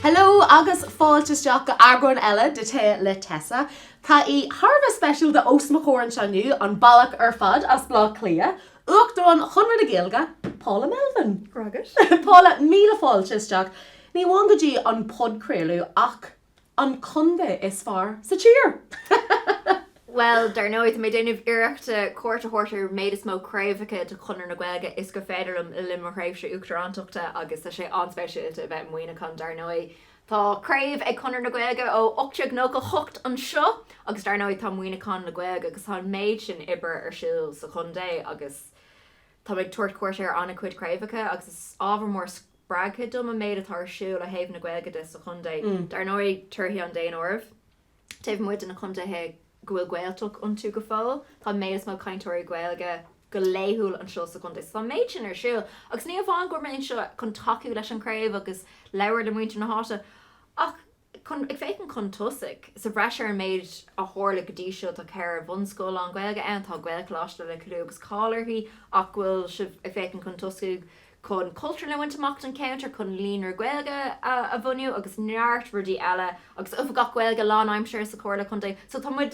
Hello agus fáilte isteach go eagrán eile de Tae le Tessa. Tá aoi thar a bheith speisialta os mo chomhair anseo inniu, an bealach ar fad as Bleá Cliath Uachtarán Chonradh na Gaeilge, Paula Melvin. Go raibh maith agat. Paula, míle fáilte isteach, ní amháin go dtí an podchraoladh ach an contae is fearr sa tír! Bhuel, dar ndóigh, tá mé ag déanamh iarrachta cuairt a thabhairt ar an méad is mó craobhacha de Chonradh na Gaeilge is gur féidir liom le linn mo thréimhse Uachtarántachta agus tá sé an-speisialta a bheith i Muineachán, dar ndóigh, Tá craobh ag Conradh na Gaeilge ó 1898 anseo agus dar ndóigh tá Muineachán le Gaeilge agus tá an méid sin oibre ar siúl sa chontae agus táim ag tabhairt cuairt ar an-chuid craobhacha agus is ábhar mór spreagtha dom an méid atá ar siúl ó thaobh na Gaeilge de sa chontae, dar ndóigh torthaí an daonáirimh. taobh amuigh de na contaetha go bhfuil Gaeltacht iontu go fóill, tá an méid is mó cainteoirí Gaeilge go laethúil anseo sa chontae. So tá an méid sin ar siúl agus ní amháin go bhfuil mé anseo chun tacú leis an chraobh agus labhairt le muintir na háite ach ag féachaint chun tosaigh. Sa bhreis ar an méid a tharla go dtí seo, tá ceithre bhunscoil lán-Ghaeilge ann, tá Gaelcholáiste le clú agus cáil uirthi ach go bhfuil sibh ag féachaint chun tosaigh go chun cultúrlann a bhaint amach don cheantar, chun líonra Gaeilge a bhunú agus neart rudaí eile agus Oifigeach Gaeilge lánaimseartha sa Chomhairle Contae. So tá muid,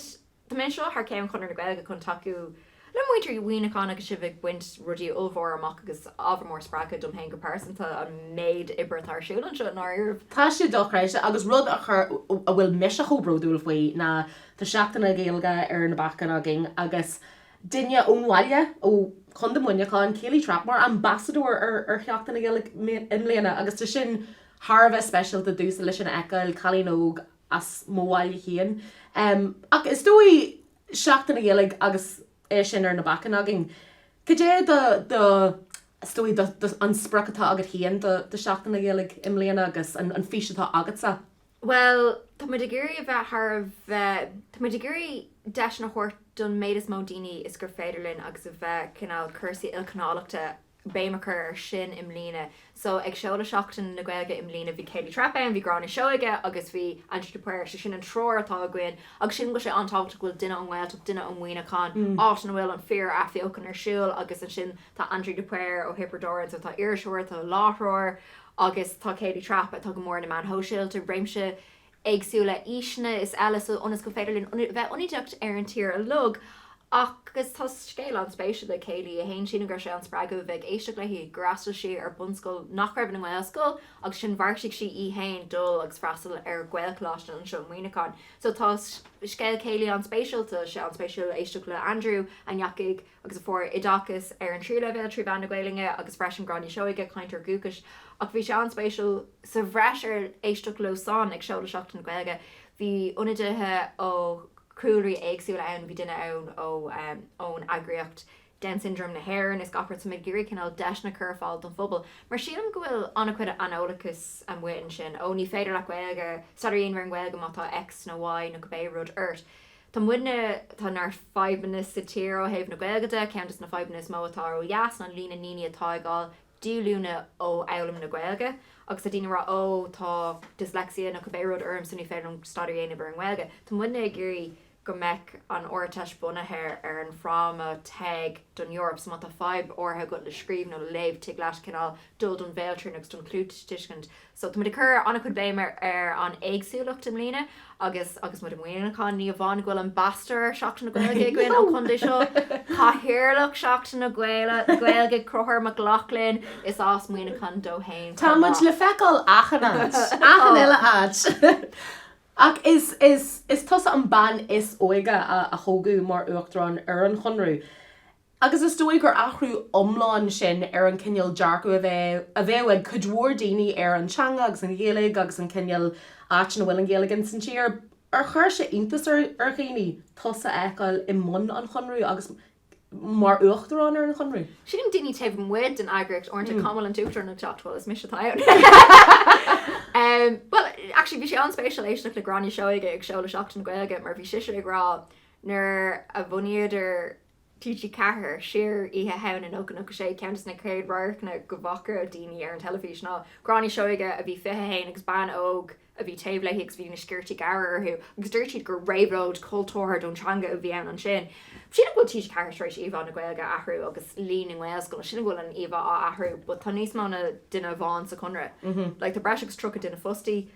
tá mé anseo thar ceann Chonradh na Gaeilge chun tacú le muintir Mhuineacháin agus sibh ag baint rudaí ollmhóra amach agus ábhar mór spreagtha dom féin go pearsanta an méid oibre atá ar siúl anseo i ndáiríribh. Tá sé dochreidte agus rud a chur, a bhfuil mise chomh bródúil faoi ná tá Seachtain na Gaeilge ar na bacáin againn agus duine ón bhaile, ó Chontae Mhuineacháin, Kayleigh Trappe, mar ambasadóir ar Sheachtain na Gaeilge i mbliana agus tá sin thar a bheith speisialta, domhsa leis sin a fheiceáil, cailín óg as mo bhaile féin. Ach is dóigh, Seachtain na Gaeilge agus é sin ar na bacáin againn, cad é do, do, is dóigh, do, do, an sprioc atá agat féin do Sheachtain na Gaeilge i mbliana agus an, an fís atá agatsa? Bhuel, tá muid ag iarraidh a bheith thar a bheith, tá muid ag iarraidh deiseanna a thabhairt don méid is mó daoine is gur féidir linn agus a bheith cineál cúrsaí ilchineálachta, béim a chur air sin i mbliana. So ag seoladh Seachtain na Gaeilge i mbliana bhí Kayleigh Trappe ann, bhí Gráinne Seoige agus bhí Aindriú de Paor. So sin an triúr atá againn agus sin go bhfuil sé an-tábhachtach go bhfuil duine ón nGaeltacht, duine ó Mhuineachán, áit ina bhfuil an fíor-athbheochan ar siúl agus ansin tá Aindriú de Paor ó Thiobraid Árann so tá iriseoir, tá láithreoir, agus tá Kayleigh Trappe, atá go mór ar na meáin shóisialta, réimse éagsúla aoiseanna is eile so ionas gur féidir linn a bheith ionadaíoch ar an tír uilig agus tá scéal an-spéisiúil ag Kayleigh í féin sin gur sé an spreagadh a bheith ag éisteacht léi gur fhreastail sí ar bunscoil nach raibh ina Gaelscoil agus ansin bheartaigh sí í féin dul agus freastal ar Ghaelcholáiste anseo i Muineachán so tá scéal Kayleigh an-spéisiúil tá sé an-spéisiúil éisteacht le Andrew a ndeachaidh agus a fuair oideachas ar an tríú leibhéal trí mheán na Gaeilge agus freisin Gráinne Seoige, cainteoir dúchais, ach bhí sé an-spéisiúil, sa bhreis ar éisteacht leo san ag seoladh Seachtain na Gaeilge, bhí ionadaithe ó chúlraí éagsúla ann, bhí duine ann ó ón eagraíocht Down Syndrome na hÉireann is gach rud, so muid ag iarraidh cineál deiseanna a chur ar fáil don phobal mar sílim go bhfuil an-chuid aineolachais amuigh ansin, ó ní féidir leat Gaeilge, staidéar a dhéanamh ar an nGaeilge má tá X nó Y nó cibé rud ort. Tá muidne, tá neart fadhbanna sa tír ó thaobh na Gaeilge de. Ceann de na fadhbanna is mó atá ó dheas ná líon na ndaoine atá ag fháil díolúine ó fhoghlaim na Gaeilge. Agus tá daoine ag rá 'Ó, tá dyslexia nó cibé rud ormsa, ní féidir liom staidéar a dhéanamh ar an nGaeilge'. Tá muidne ag iarraidh go mbeadh an Ardteist bunaithe ar an fráma 'Teg don Eoraip', so má tá fadhb áirithe agat le scríobh nó le léamh tig leat cineál dul don bhéaltrian agus don chluastuiscint. So tá muid ag cur an-chuid béime ar an éagsúlacht i mbliana agus agus muid i Muineachán, ní hamháin go bhfuil Ambasadóir Sheachtain na Gaeilge againn ón chontae seo, Cathaoirleach Sheachtain na Gaeilge, Conchubhair Mac Lochlainn, is as Muineachán dó fhéin. Tá muid le feiceáil achan áit, achan eile áit! Ach is tusa an bean is óige a toghadh mar Uachtarán ar an Chonradh. agus is dóigh gur athrú iomlán sin ar an chineál dearcaidh a bheadh ag cuid mhór daoine ar an teanga agus an Ghaeilge agus an cineál áit ina bhfuil an Ghaeilge insan tír. Ar chuir sé iontas ar dhaoine tusa a fheiceáil i mbun an Chonradh agus mar uachtarán ar an Chonradh? Sílim daoine taobh amuigh den eagraíocht uaireanta, cá bhfuil an t-uachtarán ag teacht, bhuel, is mise atá ann! Bhuel, actually, bhí sé an-spéisiúil éisteacht le Gráinne Seoige ag seoladh Seachtain na Gaeilge mar bhí sise ag rá nuair a bhunaíodar TG4, siar, Oíche Shamhna 1996, Ceann des na chéad radharcanna go bhfaca daoine ar an teilifís ná Gráinne Seoige a bhí 21 agus bean óg a bhí taobh léi agus bhí na sciortaí gearra orthu agus dúirt siad gur réabhlóid chultúrtha don teanga a bhí ann ansin. Sílim go bhfuil TG4 tar éis íomhá na Gaeilge a athrú agus líon na nGaelscoileanna, sílim go bhfuil an íomhá á athrú but tá níos mó ná duine amháin sa Chonradh, like tá breis agus 30 duine fostaí,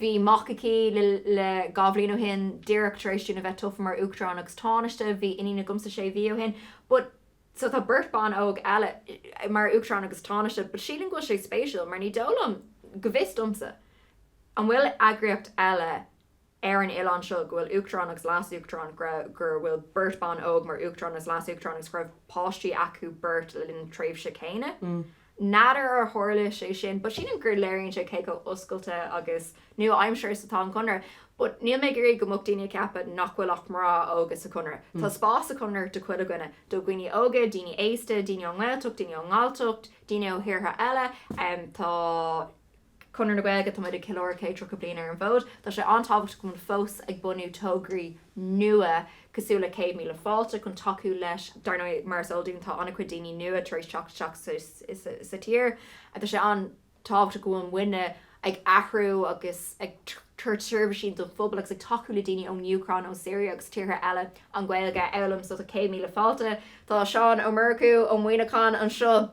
Bhí mac aici dhá bhliain ó shin, díreach tar éis dúinn a bheith tofa mar Uachtarán agus Tánaiste. Bhí iníon agamsa sé mhí ó shin. But so tá beirt bhan óg eile mar Uachtarán agus Tánaiste. But sílim go bhfuil sé spéisiúil mar ní dóigh liom, go bhfios domsa, an bhfuil eagraíocht eile ar an oileán seo go bhfuil Uachtarán agus Leas-Uachtarán go bhfuil beirt bhan óg mar Uachtarán agus Leas-Uachtarán agus go raibh páistí acu beirt le linn na tréimhse céanna. N'fheadar ar tharla sé sin but sílim gur léiríonn sé cé chomh oscailte agus nua-aimseartha is atá an Conradh. But níl mé ag iarraidh go mbeadh daoine ag ceapadh nach bhfuil ach mná óga sa Chonradh. Tá spás sa Chonradh do chuile dhuine, do dhaoine óga, daoine aosta, daoine ón nGaeltacht, daoine ón nGalltacht, daoine ó thíortha eile, tá. Conradh na Gaeilge, tá muid ag ceiliúradh céad tríocha bliain ar an bhfód. Tá sé an-tábhachtach go bhfuil muid fós ag bunú tograí nua cosúil le Céad Míle Fáilte chun tacú leis. Dar ndóigh, mar is eol dúinn, tá an-chuid daoine nua tar éis teacht isteach sa tír agus tá sé an-tábhachtach go bhfuil muidne ag athrú agus ag tabhairt seirbhísí don phobal agus ag tacú le daoine ón Úcráin, ón Siria agus tíortha eile an Ghaeilge a fhoghlaim. So tá Céad Míle Fáilte, tá Seán Ó Murchú ó Mhuineachán anseo,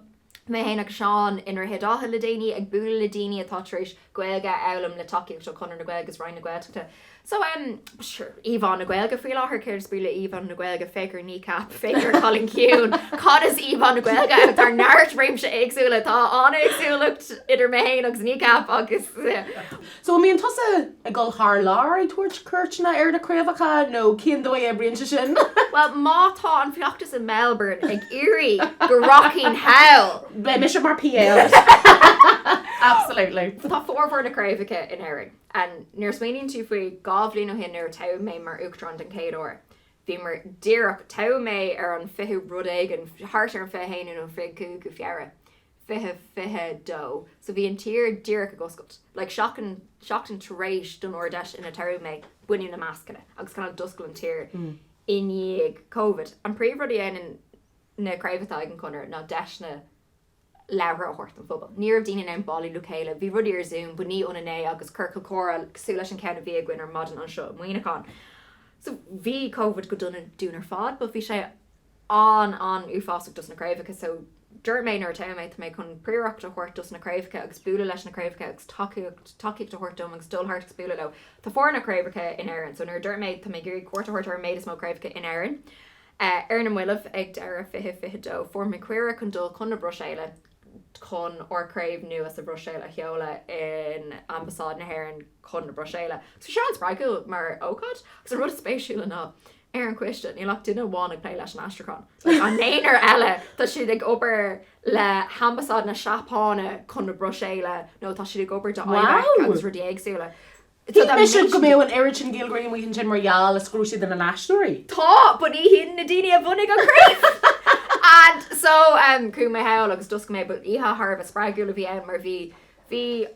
Mé fhéin agus Seán i nDroichead Átha le déanaí ag bualadh le daoine atá tar éis Gaeilge a fhoghlaim le tacaíocht ó Chonradh na Gaeilge is Roinn na Gaeltachta. So, em, sure, íomhá na Gaeilge faoi láthair, céard is brí le íomhá na Gaeilge? Féach ar Kneecap, féach ar Cailín Ciúin, cad is íomhá na Gaeilge ann? Tá neart réimse éagsúla, tá an-éagsúlacht idir mé fhéin agus Kneecap agus, eh, So an mbíonn tusa ag dul thar lear ag tabhairt cuairteanna ar na craobhacha nó cén dóigh a oibríonn sé sin? Bhuel má tá an fheachtas i Melbourne ag iarraidh go rachainn thall. Beidh mise mar PA agat. Absolutely. So tá formhór na gcraobhacha in Éirinn. And nuair a smaoiníonn tú faoi, dhá bhliain ó shin nuair a toghadh mé mar Uachtarán den chéad uair, bhíomar díreach, toghadh mé ar an 20ú rud éigin, thart ar an 21ú nó an 25ú Feabhra, 2022, so bhí an tír díreach ag oscailt, like seachtain tar éis don Ard Fheis inar toghadh mé baineadh na mascanna agus kind of d'oscail an tír i ndiaidh Covid. An príomh rud a dhéanann na craobh atá ag an gConradh ná deiseanna labhartha a thabhairt don phobal. Ní raibh daoine in ann bailiú le chéile, bhí rudaí ar Zoom but ní ionann é agus ciorcal comhrá cosúil leis an ceann a bhí againn ar maidin anseo i Muineachán. So bhí Covid go dona dúinn ar fad but bhí sé, an an uafásach dos na craobhacha so dúirt mé nuair a toghadh mé tá mé chun príoracht a thabhairt dos na craobhacha agus bualadh leis na craobhacha agus tacaíocht a thabhairt dóibh agus dul thart agus bualadh leo tá formhór na craobhacha in Éirinn so nuair a dúirt mé tá mé ag iarraidh cuairt a thabhairt ar an méid is mó craobhacha in Éirinn ar na mallaibh ag deireadh fiche fiche dó fuair mé cuireadh chun dul chun na Bruiséile chun ár craobh nua sa Bhruiséil a sheoladh in Ambasáid na hÉireann chun na Bruiséile so bhí sé an-spreagúil mar ócáid agus an rud is spéisiúla ná ar an choiste, níl ach duine amháin ag plé leis an aistriúchán. An naonúr eile, tá siad ag obair le hAmbasáid na Seapáine chun an Bhruiséil nó tá siad ag obair do IBEC agus rudai éagsúla. Shíl mise go mbeadh an oiread sin Gaeilgeoirí amuigh ansin mar gheall le scrúdú na n-aistritheoirí. Tá, but ní hin na daoine a bhunaigh an chraobh! And so, um, chuaigh mé thall agus d'oscail mé í, but oíche thar a bheith spreagúil a bhí ann mar bhí, bhí,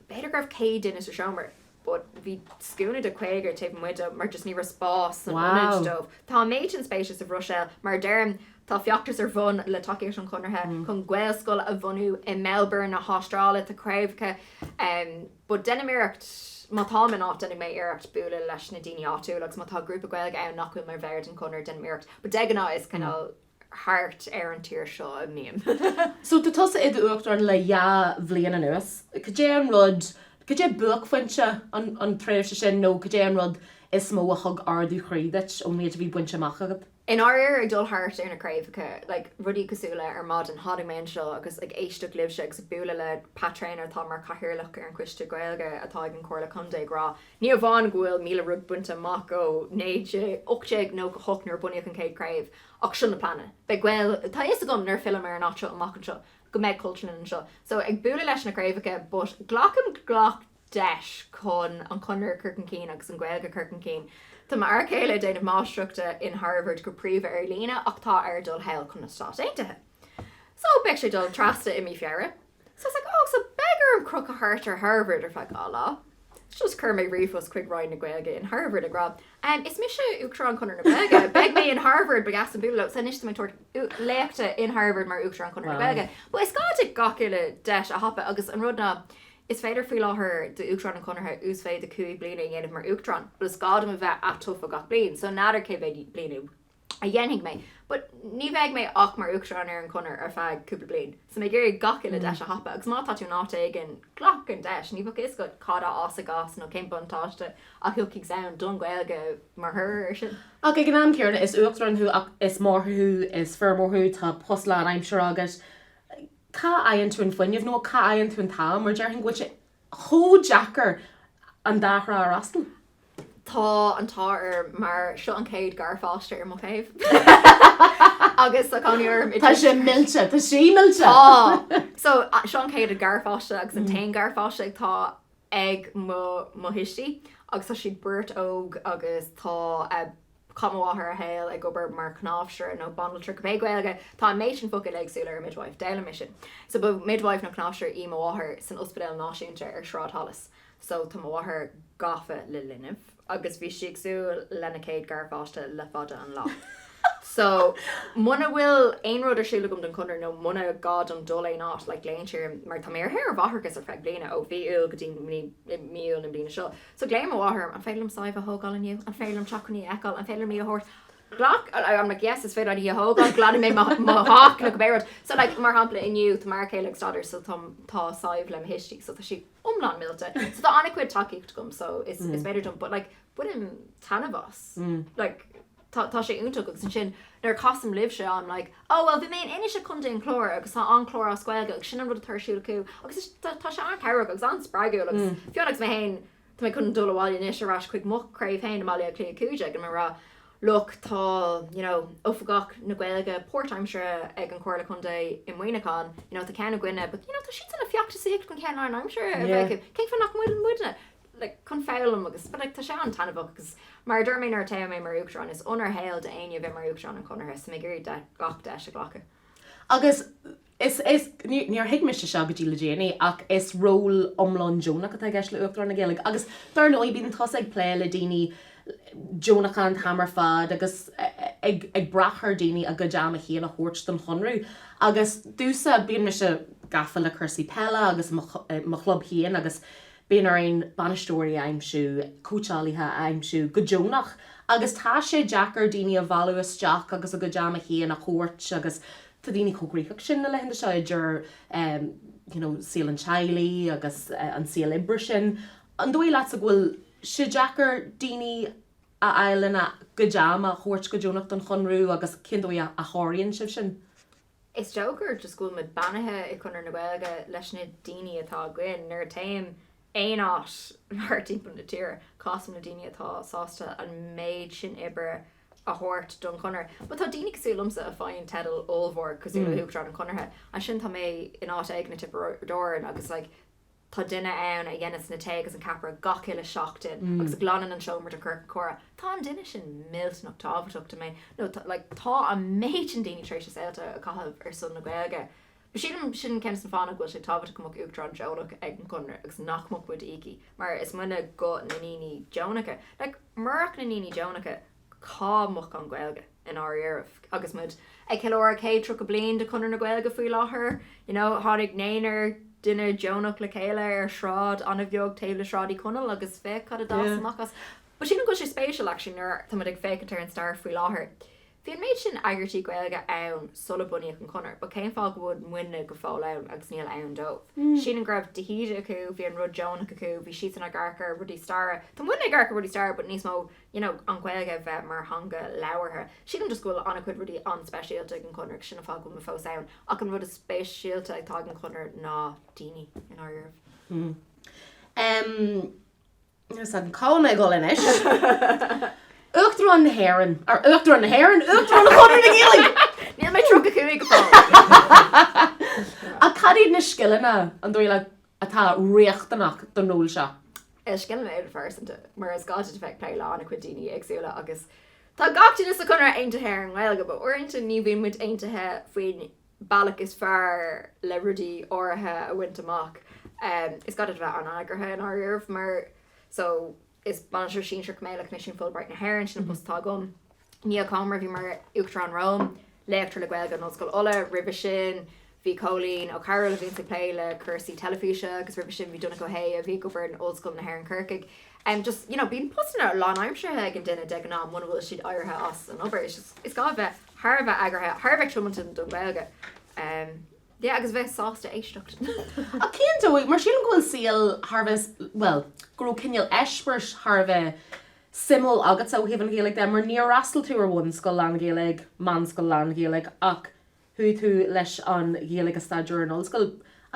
b'fhéidir go raibh 100 duine sa seomra but bhí scuaine de 50 taobh amuigh de mar just ní raibh spás san ionad dóibh. Tá an méid sin spéise sa Bhruiséil, mar a deirim, tá feachtas ar bhun, le tacaíocht an Chonartha, chun Gaelscoil a bhunú i Melbourne na hAstráile, tá craobhacha ann but deinim iarracht, má táim in áit, déanann mé iarracht bualadh leis na daoine áitiúla agus má tá grúpa Gaeilge ann nach bhfuil mar bhall den Chonradh deinim iarracht but de ghnáth is cineál thart ar an tír seo a bhím. So tá tusa i d'Uachtarán le dhá bhliain anuas. Cad é an rud, cad é buaicphointe an tréimhse sin nó cad é an rud is mó a thug ardú chroí duit ón méid a bhí bainte amach agat? I ndáiríre, ag dul thart ar na craobhacha, like rudaí cosúil le ar maidin tháinig mé anseo agus ag éisteacht libhse agus ag bualadh le Pat Treanor atá mar chathaoirleach ar an choiste Gaeilge atá ag an Chomhairle Contae ag rá ní hamháin go bhfuil míle rud bainte amach ó 1898 nuair a bunaíodh an chéad chraobh Ach seo na pleananna. Beidh Gael, tá a fhios agam nuair a fhillim ar an áit seo amach anseo go mbeidh cultúrlann anseo, so ag bualadh leis na craobhacha but glacaim gach deis chun an Conradh a chur chun cinn agus an Ghaeilge a chur chun cinn. Tá m'fhear céile ag déanamh máistreachta in Harvard go príomha ar líne ach tá air dul thall chun na Stáit Aontaithe. So beidh sé ag dul trasna i mí Feabhra. So I was like, ó, so beidh orm crochadh thart ar Harvard ar feadh dhá lá. Just chuir mé ríomhphost chuig Roinn na Gaeilge in Harvard ag rá, em, is mise Uachtarán Chonradh na Gaeilge, beidh mé in Harvard, ba dheas bualadh, so anois tá mé ag tabhairt léachta in Harvard mar Uachtarán Chonradh na Gaeilge. But is gá duit gach uile deis a thapú agus an rud ná, is féidir faoi láthair d'Uachtarán an Chonartha uasmhéid de chúig bliana a dhéanamh mar Uachtarán but is gá dom a bheith at-tofa gach bliain, so n'fheadar cé mhéad bliain a a dhéanfaidh mé, but ní bheidh mé ach mar Uachtarán ar an Chonradh ar feadh cúpla bliain, so tá mé ag iarraidh gach uile deis a thapú agus má tá tú in áit éigin, glac an deis, ní bheadh a fhios agat cad a fhásfaidh as nó cén buntáiste a thiocfaidh as don Ghaeilge mar thoradh ar sin. Ach ag an am céanna, is Uachtarán thú ach is máthair thú, is feirmeoir thú, tá post lánaimseartha agat, cá fhaigheann tú an fuinneamh nó cá fhaigheann tú an t-am mar déarfainn go bhfuil sé chomh deacair an dá thrá a fhreastal. Tá an t-ádh orm mar seo an chéad garpháiste ar mo thaobh agus tá cónaí orm i. Tá sé millte, tá sí millte! Tá! So, seo an chéad garpháiste agus an t-aon garpháiste atá ag mo thuistí agus tá siad beirt óg agus tá. chaith mo mháthair a saol ag obair mar chnáimhseire nó banaltra, cibé Gaeilge, tá an méid sin focail éagsúla ar midwife, d'fhoghlaim mé sin so ba midwife nó cnáimhseire í mo mháthair san Ospidéal Náisiúnta ar Shráid Holles so tá mo mháthair gafa le linbh agus bhí sí ag súil lena céad garpháiste le fada an lá so muna bhfuil aon rud ar siúl agam don Chonradh nó muna gá dom dul aon áit like glaonn sí orm mar tá mé ar shaoire mháithreachais ar feadh bliana ó mhí Iúil go dtí mí Iúil na bliana seo. So ghlaoigh mo mháthair orm, An féidir liom Sadhbh a thógáil inniu? An féidir liom teacht chun í a fheiceáil? An féidir liom í a thabhairt? Ghlac, I'm like, yes, is féidir leat í a thógáil, glanfaidh mé mo theach nó cibé rud. So like, mar shampla inniu, tá m'fhear céile ag staidéar so tá, tá Sadhbh le mo thuistí so tá sí iomlán millte. So tá an-chuid tacaíocht agam so is féidir dul, but like bainim taitneamh as, like, tá, tá sé iontach agus ansin nuair a casaim libhse I'm like oh well bhí mé in Inis i gContae an Chláir agus tá An Clár as Gaeilge agus sin an rud atá ar siúl acu agus is, tá, tá sé an-chabhrach agus an-spreagúil agus fiú anois mé fhéin tá mé chun dul abhaile anois ar ais chuig mo chraobh fhéin i mBaile Átha Cliath 15 ag rá look tá you know Oifigeach na Gaeilge páirtaimseartha ag an Chomhairle Contae i Muineachán you know tá ceann againne but you know tá siadsan ag feachtasaíocht chun ceann lánaimseartha a bheith yeah acu cén fáth nach bhfuil muidne like, chun foghlaim agus but like tá sé an-taitneamhach agus mar a dúirt mé nuair a toghadh mé mar Uachtarán, is onóir shaoil d'éinne a bheith mar Uachtarán an Chonartha so mé ag iarraidh gach deis a ghlacadh. Agus níor thuig mise seo go dtí le déanaí ach is ról iomlán deonach atá i gceist le Uachtarán na Gaeilge agus dar ndóigh bíonn tusa ag plé le daoine deonacha an t-am ar fad agus ag brath ar dhaoine a gcuid ama féin a thabhairt don Chonradh agus domhsa bíonn mise gafa le cúrsaí peile agus mo chlub féin agus Bíonn orainn bainisteoirí a aimsiú, cóitseálaithe a aimsiú go deonach agus tá sé deacair daoine a mhealladh isteach agus a gcuid ama féin a thabhairt agus tá daoine chomh gnóthach sin na laethanta seo idir you know saol an teaghlaigh agus an saol oibre sin. An dóigh leatsa go bhfuil sé deacair daoine a fháil lena gcuid ama a thabhairt go deonach don Chonradh agus cén dóigh a sháraíonn sibh sin? Is deacair just go bhfuil muid beannaithe i Conradh na Gaeilge leis na daoine atá againn. Nuair a téim aon áit mórthimpeall na tíre, casaim le daoine atá sásta an méid sin oibre a thabhairt don Chonradh. But tá daoine cosúil liomsa a faigheann teidil ollmhór cosúil le hUachtarán an Chonartha, ansin tá mé in áit éigin i Tiobraid Árann agus like, Tá duine ann a dhéanas an tae agus an ceapaire gach uile seachtain agus a ghlanann an seomra don chiorcal comhrá. Tá an duine sin millteanach tábhachtach domh. You know tá an méid sin daoine tar éis a saolta a chaitheamh ar son na Gaeilge. Sílim, sin ceann des na fáthanna go bhfuil sé tábhachtach go mbeadh Uachtarán deonach ag an gConradh agus nach mbeadh muid íoctha mar is muidne guth na ndaoine deonacha. Murach na ndaoine deonacha, Cá mbeadh an Ghaeilge inár dhiaidh agus muid ag ceiliúradh 130 bliain de Chonradh na Gaeilge faoi láthair? You know, tháinig naonúr duine deonacha le chéile ar shráid an-bheag taobh le Sráid Uí Chonaill agus féach cad a d'fhás amach as. But sílim go bhfuil sé spéisiúil, actually, nuair tá muid ag féachaint ar an stair faoi láthair. Bhí an méid sin eagraítí Gaeilge ann sula bunaíodh an Conradh, but cén fáth go bhfuil muidne go fóill ann agus níl ann dóibh? Sílim go raibh de hÍde acu, bhí an rud deonach acu, bhí siadsan ag amharc ar rudaí staire. Tá muidne ag amharc ar rudaí staire, but níos mó you know, an Ghaeilge a bheith mar theanga labhartha. Sílim just go bhfuil an-chuid rudaí an-speisialta ag an Chonradh sin an fáth go bhfuil mé fós ann ach an rud is speisialta atá ag an Chonradh ná daoine i ndáiríribh. Umm, níl a fhios agam, cá bhfuil mé ag dhul anois? Uachtarán na hÉireann, or Uachtarán na hÉireann, Uachtarán Chonradh na Gaeilge! Níl mé 35 go fóill! Ach cad iad na scileanna an dóigh leat atá riachtanach don ról seo. Scileanna idirphearsanta, mar is gá duit a bheith ag plé le an-chuid daoine éagsúla agus tá gach duine sa Chonradh aontaithe ar an nGaeilge, but uaireanta ní bhíonn muid aontaithe faoin bealach is fearr le rudaí áirithe a bhaint amach. Is gá duit a bheith an-eagraithe i ndáiríribh mar so. Is bainisteoir sinsearach mé le Coimisiún Fulbright na hÉireann, sin an post atá agam. Niall Comer a bhí mar Uachtarán romham, léachtóir le Gaeilge in Ollscoil Uladh, roimhe sin bhí Cóilín Ó Cearbhaill a bhíonns ag plé le cúrsaí teilifíse agus roimhe sin bhí Donncha Ó hAodha a bhí ag obair in Ollscoil na hÉireann Corcaigh. Just you know bíonn postanna lánaimseartha ag an duine de ghnáth muna bhfuil siad éirithe as an obair. Is gá a bheith thar a bheith eagraithe, thar a bheith tiomanta don Ghaeilge. yeah agus bheith sásta éisteacht ach cén dóigh mar sílim go bhfuil saol thar a bheith bhuel go raibh cineál eispéiris thar a bheith suimiúil agatsa ó thaobh an Ghaeilge de mar níor fhreastail tú ar bhunscoil lán-Ghaeilge meánscoil lán-Ghaeilge ach chuaigh tú leis an Ghaeilge a staidéar ar an ollscoil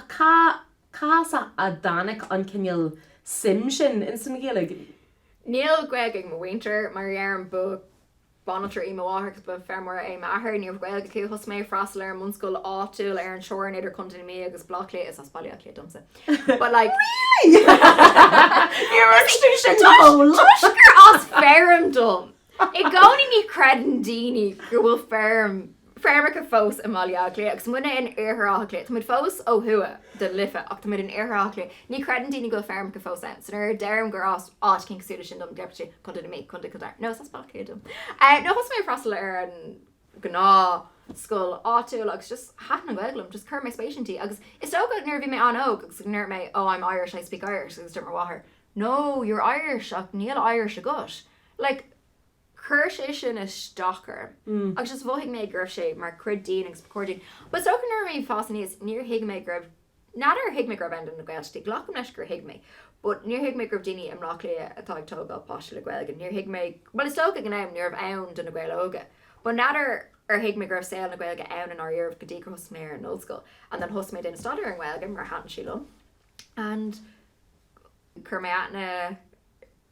ach cá as a dtáinig an cineál suim sin ins an Ghaeilge? Níl Gaeilge ag mo mhuintir mar a deir an buachaill. Banaltra í mo mháthair agus feirmeoir é m'athair. Ní raibh Gaeilge acu. Thosaigh mé ag freastal ar an mbunscoil áitiúil ar an teorainn idir Contae na Mí agus Baile Átha Cliath, is as Baile Átha Cliath domsa, but like Níor fhreagair tú sin dom! Toisc gur as feirm dom! I gcónaí ní chreideann daoine go bhfuil feirm feirmeacha fós i mBaile Átha Cliath agus muidne in Iarthar Átha Cliath. Tá muid fós ó thuaidh den Life ach tá muid in Iarthar Átha Cliath. Ní chreideann daoine go bhfuil feirmeacha fós ann. So nuair a deirim gur as áit éicint cosúil leis sin dom, deirtear Contae na Mí, Contae Chill Dara. No, is as Baile Cliath dom. Eh, no, thosaigh mé ag freastal ar an gnáth scoil áitiúil agus just thaithin an Ghaeilge liom, just chuir mé spéis inti agus is dócha nuair a bhí mé an-óg agus go ndúirt mé oh I'm Irish, I speak Irish agus deir mo mháthair no, you're Irish ach níl Irish agat. Like, Chuir sé sin isteach orm agus is mhothaigh mé go raibh sé mar chuid díom agus ba chóir dom. But so nuair a bhí mé ag fás aníos níor thuig mé go raibh, n'fheadar ar thuig mé go raibh ann do na Gaeil, glacaim leis gur thuig mé, but níor thuig mé go raibh daoine i mBleá Cliath atá ag tógáil páistí le Gaeilge, níor thuig mé, bhuel is dócha ag an am ní raibh ann do na Gaeil Óga, but n'fheadar ar thuig mé go raibh saol na Gaeilge ann i ndáiríribh go dtí gur thosaigh mé ar an ollscoil and then thosaigh mé ag déanamh staidéar ar an nGaeilge mar thaitin sí liom and chuir mé aithne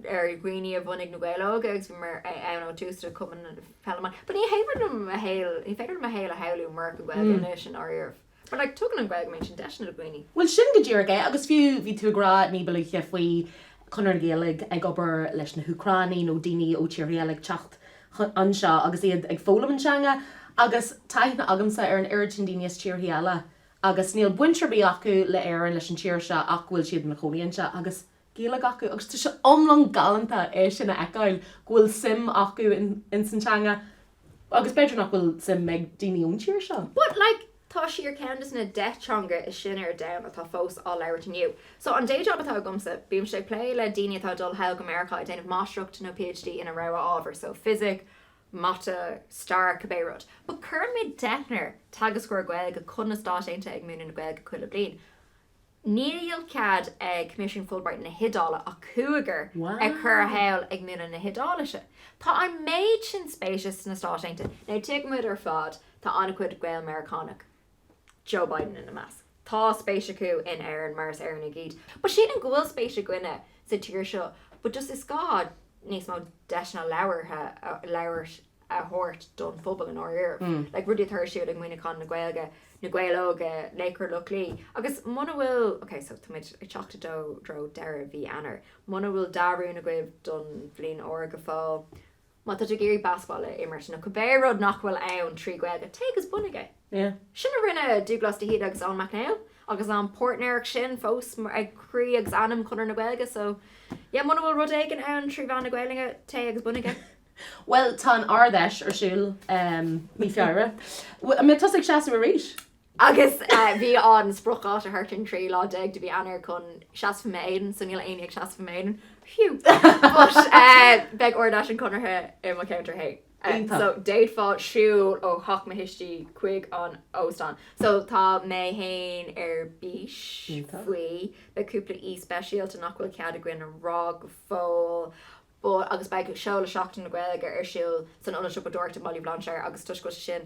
ar dhaoine a bhunaigh Na Gaeil Óga agus bhí mé ann ó thús le Cumann Peile na Mumhan. Ní féidir liom mo shaol, ní féidir liom mo shaol a shamhlú murach an Ghaeilge anois, i ndáiríribh. But like, tugann an Ghaeilge mar sin deiseanna do dhaoine. Bhuel, sin go díreach é agus fiú, bhí tú ag rá ní ba luaithe faoi Chonradh na Gaeilge ag obair leis na hÚcránaigh nó daoine ó tíortha eile ag teacht anseo agus iad ag foghlaim an teanga agus tá aithne agamsa ar an oiread sin daoine as tíortha eile agus níl baint ar bith acu le hÉirinn, leis an tír seo ach go bhfuil siad ina gcónaí anseo agus. Gaeilge acu agus tá sé iomlán galánta é sin a fheiceáil go bhfuil suim acu ins an teanga agus b'fhéidir nach bhfuil suim ag daoine ón tír seo. But like tá sí ar ceann des na deich teanga is sine ar domhan atá fós á labhairt inniu. So an day job atá agamsa, bímse ag plé le daoine atá ag dul sall go Meiriceá ag déanamh máistreacht nó PhD ina rogha ábhar, so fisic, mata, stair, cibé rud. But cuireann muid deichniúr teagascóir Gaeilge chun na Stáit Aontaithe ag múineadh na Gaeilge chuile bliain. Níl cead ag Coimisiún Fulbright na hIodáile ach cúigear a chur sall ag múineadh na hIodáilise. Tá an méid sin spéise sna Stáit Aontaithe, now tuigeann muid ar fad, tá an-chuid Gael-Meiriceánach, Joe Biden ina measc. Tá spéis acu in Éirinn mar is Éireannaigh iad. But sílim go bhfuil spéis againne sa tír seo but just is gá níos mó deiseanna labhartha a thabhairt. thabhairt don phobal i ndáiríre, like rudaí atá ar siúl ag Muineachán na Gaeilge, Na Gaeil Óga, Laochra Loch Lao agus muna bhfuil, okay so tá muid ag teacht i dtreo deireadh mhí Eanáir, muna bhfuil dea-rún agaibh don bhliain úr go fóill, má tá tú ag iarraidh baseball a imirt nó cibé rud nach bhfuil ann trí Ghaeilge, téigh agus bunaigh é. Yeah. Sin a rinne Dúglás de hÍde agus Eoin Mac Néill agus an pháirtnéireacht sin fós ag croí agus anam Chonradh na Gaeilge so yeah muna bhfuil rud éigin ann trí mheán na Gaeilge, téigh agus bunaigh é. Bhuel, tá an Ard-Fheis ar siúl mí Feabhra. An mbeidh tusa ag seasamh arís? Agus bhí an spriocdháta thart an 13 lá de mhí Eanáir chun seasamh i m'éadan, so níl éinne ag seasamh i m'éadan, phew! But beidh Ard-Fheis an Chonartha i mo cheantar fhéin. Iontach. So d'fhéadfá siúl ó theach mo thuistí chuig an óstán. So tá mé fhéin ar bís faoi. Beidh cúpla aoi speisialta nach bhfuil cead againn a rá go fóill. Ba, agus beidh, seoladh Sheachtain na Gaeilge ar siúl san Ionad Siopadóireachta i mBaile Bhlainséir agus toisc go bhfuil sé sin,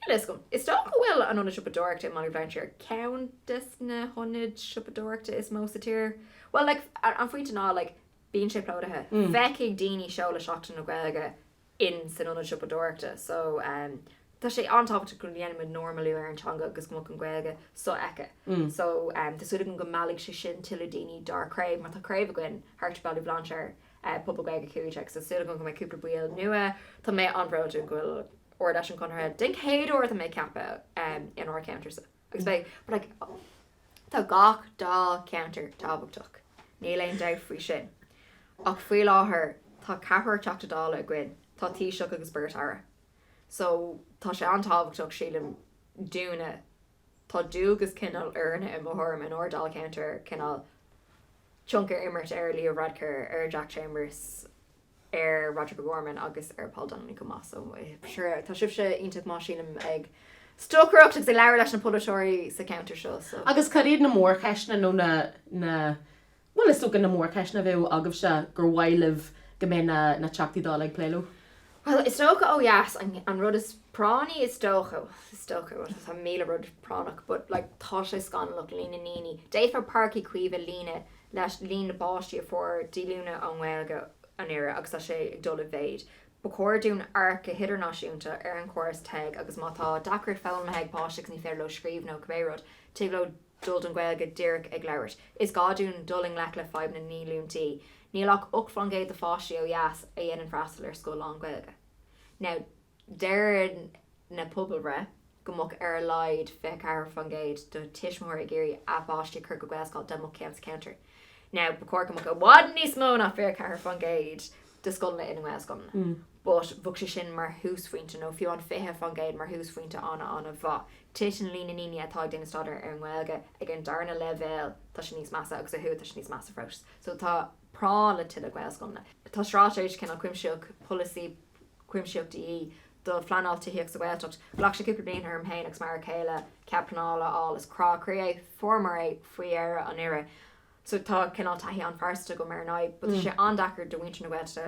níl a fhios agam, is dócha go bhfuil an Ionad Siopadóireachta i mBaile Bhlainséir ar cheann desna hionaid siopadóireachta is mó sa tír, bhuel, like, an pointe ná, like, bíonn sé plódaithe, feicfidh daoine seoladh Sheachtain na Gaeilge in san ionad siopadóireachta so tá sé an-tábhachtach go ndéanaimid normalú ar an teanga agus go mbeadh an Ghaeilge so-fheicthe so tá súil agam go meallfaidh sé sin tuilleadh daoine dár craobh mar tá craobh againn thart i Baile Bhlainséir, pobal Gaeilge Cúig Déag so tá súil agam go mbeidh cúpla ball nua tá mé an-bhródúil go bhfuil Ard Fheis an Chonartha den chéad uair tá mé ag ceapadh in ár cheantar so. agus beidh but like tá gach dáilcheantar tábhachtach, níl aon dabht faoi sin, ach faoi láthair tá ceathrar Teachta Dála againn, tá Taoiseach agus beirt Aire, so tá sé an-tábhachtach, sílim, dúinne, tá dualgas cineál orainne, i mo thuairim, in ár ndáilcheantar cineál tionchar a imirt ar Leo Varadkar, ar Jack Chambers, ar Roderic O'Gorman agus ar Paul Donnelly chomh maith. So sure tá sibhse iontach maith sílim ag stocaireacht agus ag labhairt leis na polaiteoirí sa cheantar seo. So. Agus cad iad na mórcheisteanna nó na, na, bhuel is dócha na mórcheisteanna a bheadh agaibhse gur mhaith libh go mbeadh na, na Teachtaí Dála ag plé leo? Bhuel is dócha ó dheas an, an rud is práinní is dócha, is dócha rud tá míle rud práinneach but like tá sé scannalach líon na ndaoine, d'fhéadfá Páirc Uí Chaoimh a líonadh leis líon na bpáistí a fuair díolúint ón nGaeilge anuraidh agus tá sé ag dul i méid. Ba chóir dúinn amharc go hidirnáisiúnta ar an chóras TEG agus má tá deacracht foghlamtha ag páiste agus ní féidir leo scríobh nó cibé rud, tig leo dul don Ghaeilge díreach ag labhairt. Is gá dúinn dul i ngleic le fadhb na ndíolúintí. Níl ach ocht faoin gcéad de pháistí ó dheas a dhéanann freastal ar scoil lán-Ghaeilge. Now. Deir na pobalbhreitheanna go mbeadh ar a laghad 24% de thuismitheoirí ag iarraidh a bpáistí a chur go Gaelscoil dá mbeadh ceann sa cheantar. Now, ba chóir go mbeadh i bhfad níos mó ná 24% de scoileanna ina nGaelscoileanna, but bheadh sé sin mar thúsphointe, nó fiú an 20% mar thúsphointe an-an-mhaith. Titeann an líon na ndaoine atá ag déanamh staidéar ar an nGaeilge ag an darna leibhéal, tá sé níos measa, agus ó thuaidh tá sé níos measa fós. So tá práinn le tuilleadh Gaelscoileanna. Tá straitéis cineál cuimsitheach, polasaí cuimsitheach de dhíth do phleanáil tithíochta sa Ghaeltacht. Ghlac sé cúpla bliain orm féin agus m'fhear céile cead pleanála a fháil is crá croí é fuair muid é faoi dheireadh anuraidh so tá cineál taithí an-phearsanta agam ar an fhadhb but tá sé an-deacair do mhuintir na Gaeltachta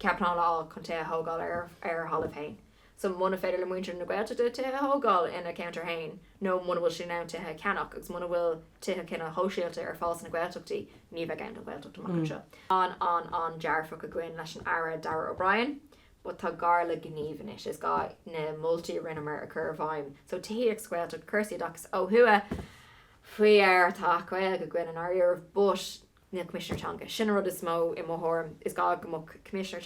cead pleanála a fháil chun tithe a thógáil ar a dtalamh féin so muna féidir le muintir na Gaeltachta tithe a thógáil ina gceantair féin, nó muna bhfuil siad in ann tithe a cheannach agus muna bhfuil tithe cineál sóisialta ar fáil sna Gaeltachtaí, ní bheidh ann don Ghaeltacht amach anseo. An an an dearfach againn leis an Aire Darragh O'Brien but tá gá le gníomh anois. Is gá na moltaí a rinneamar a chur i bhfeidhm. So tithíocht sa Ghaeltacht, cúrsaí oideachais ó thuaidh faraor tá Acht Gaeilge againn i ndáiríre but na Coimisinéirí Teanga. Sin an rud is mó, i mo thuairim. Is gá go mbeadh Coimisinéir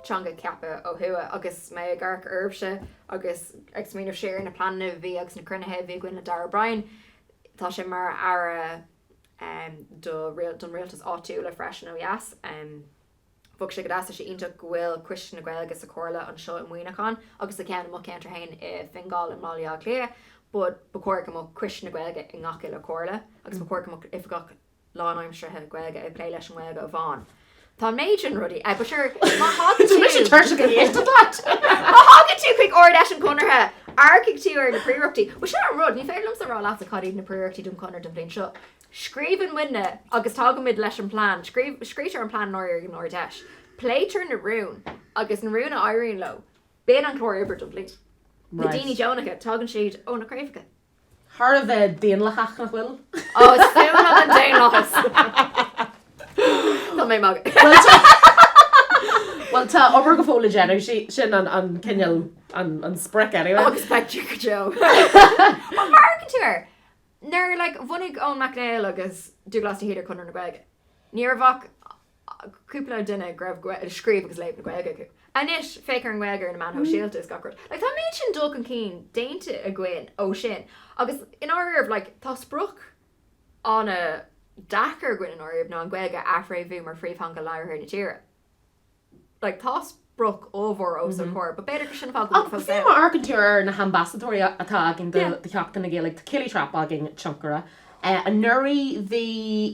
Teanga ceaptha ó thuaidh. Agus mé ag amharc oraibhse agus ag smaoineamh siar ar na pleananna a bhí agus na cruinnithe a bhí againn le Darragh O'Brien, tá sé mar Aire don Rialtas Áitiúla freisin ó dheas. Bheadh sé go deas, tá sé iontach go bhfuil Coiste na Gaeilge sa Chomhairle anseo i Muineachán agus tá ceann i mo cheantar fhéin i Fingal i mBaile Átha Cliath but ba chóir go mbeadh Coiste na Gaeilge i ngach uile Chomhairle agus ba chóir go mbeadh Oifigeach lánaimseartha Gaeilge ag plé leis an nGaeilge amháin. Tá an méid sin rudaí ag but sure má thagann tú, má thagann tú chuig Ard Fheis an Chonartha amharcfaidh tú ar na príorachtaí. Bhuel sin an rud, ní féidir liomsa a rá leatsa cad iad na príorachtaí don Chonradh don bhliain seo. Scríobhann muidne agus tagaimid leis an bplean, scríobhtar an plean i ndáiríre ag an Ard Fheis, pléitear na rúin agus na rúin a éiríonn leo, bíonn an clár oibre don bhliain. Na daoine deonacha, tagann siad ó na craobhacha. Thar a bheith daonlathach, nach bhfuil? Ó, is fuath liom an daonlathas! Tá mé ag magadh. Bhuel, tá obair go fóill le déanamh, sin an cineál, an sprioc anyway. Agus beidh tú go deo. Má amharcann tú air! Nuair like a bhunaigh Eoin Mac Néill agus Dubhghlas de hÍde Conradh na Gaeilge, ní raibh ach cúpla duine go raibh scríobh agus léamh na Gaeilge acu. Anois, féach ar an nGaeilge ar na meáin shóisialta is gach rud. Tá an méid sin dul chun cinn déanta againn ó sin agus i ndáiríribh, like, tá sprioc an-deacair againn i ndáiríribh ná an Ghaeilge a athfhréamhú mar phríomhtheanga labhartha na tíre. like tá sprioc ollmhór os ár gcomhair but b'fhéidir go sin fáth go bhfuil fós ann. Má amharcann tú ar na hambasadóirí atá againn do Sheachtain na Gaeilge tá Kayleigh Trappe againn, tionchaire. Anuraidh bhí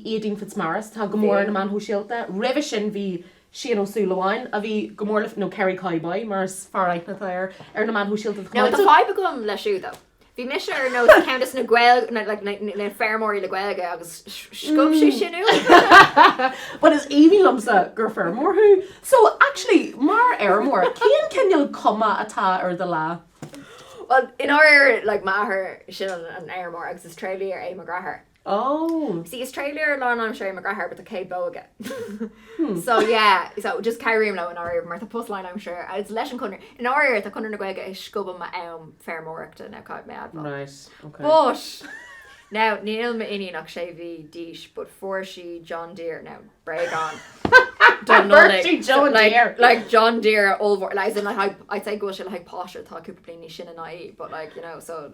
Éadaoin Fitzmaurice atá go mór ar na meáin shóisialta. Roimhe sin bhí Séaghan Ó Súilleabháin a bhí go mór le, nó Kerry Cowboy mar is fearr aithne atá air ar na meáin shóisialta. Now tá fadhb agam leis siúd though. Bhí mise ar nós cuntas na Gaeilge, na, like, na, na feirmeoirí le Gaeilge agus scuab sé sin uaim. But is aoibhinn liomsa gur feirmeoir thú. So, actually, mar fheirmeoir, cén cineál cuma atá ar do lá? Well, i ndáiríre, like, m'athair, sin an fheirmeoir agus is tréidlia é mo dheartháir. Oh! See is tréidlia lánaimseartha é mo dheartháir but tá céad bó aige Hmm. So yeah, so just cabhraím leo i ndáiríre mar tá post lánaimseartha agam leis an Conradh, i ndáiríre tá Conradh na Gaeilge ag scuabadh m'am feirmeoireachta now caithfidh mé a admháil. Right, ok. But! Now níl m'iníon ach sé mhí d'aois but fuair sí John Deere, now bréagán don Nollaig, like, Fuair sí John Deere! like John Deere ollmhór, like as in like I'd I'd say go bhfuil sé le haghaidh páiste atá cúpla bliain níos sine ná í but like, you know, so.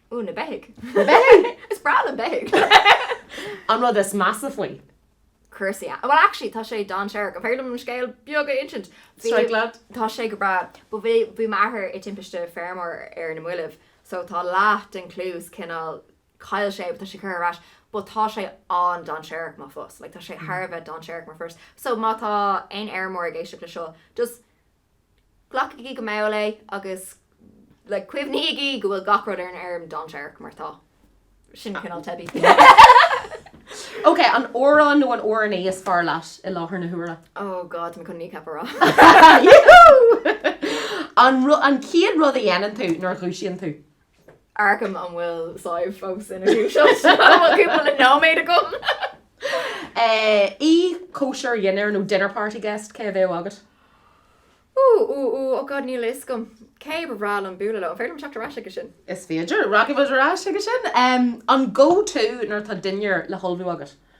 Ooh, na beithigh. Na beithigh! Is breá liom beithigh! An rud is measa faoi. Cúrsaí a. Bhuel actually tá sé dainséarach. An féidir liom an scéal beag a insint? Strike lad. Tá sé go breá. But bhí bhí m'athair i timpiste feirmeoir ar na mallaibh so tá leath den cluas cineál chaill sé but tá sé curtha ar ais but tá sé an-dainséarach mar phost. Like tá sé thar a bheith dainséarach mar phost. So má tá aon fheirmeoir ag éisteacht le seo just Glacaigí go mall é agus like cuimhnígí go bhfuil gach rud ar an fheirm dainséarach mar tá. Sin cineál teibí. Ok, an amhrán nó an amhránaí is fearr leat i láthair na huaire? Oh God, tá mé chun Kneecap a rá. Yahoo! An chéad rud a dhéanann tú nuair a dhúisíonn tú? Amharcaim an bhfuil Sadhbh fós ina dúiseacht so bhfuil cúpla le nóiméad agam. Aoi cóisir dhinnéir nó dinner party guest, cé a bheadh agat? Ooh ooh ooh oh god níl a fhios agam cé ba bhreá liom bualadh leo. An féidir liom teacht ar ais chuige sin? Is féidir. Rachaidh muid ar ais chuige sin. An go-to nuair atá dinnéar le hullmhú agat?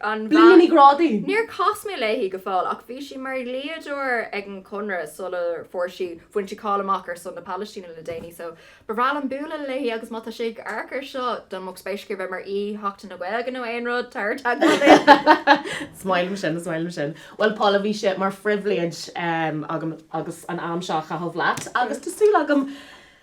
an Blinne Ní Ghrálaigh. Níor chas mé léi go fóill ach bhí sí mar dhlíodóir ag an Chonradh sular fuair sí, bhain sí cáil amach ar son na Palaistíne le déanaí so ba bhreá liom bualadh léi agus má tá sí ag amharc ar seo dá mbeadh spéis aici a bheith mar aoi Sheachtain na Gaeilge nó aon rud, tar i dteagmháil. Is maith liom sin, is maith liom sin. Bhuel Paula, bhí sé mar phribhléid agam agus an am seo a chaitheamh leat agus tá súil agam,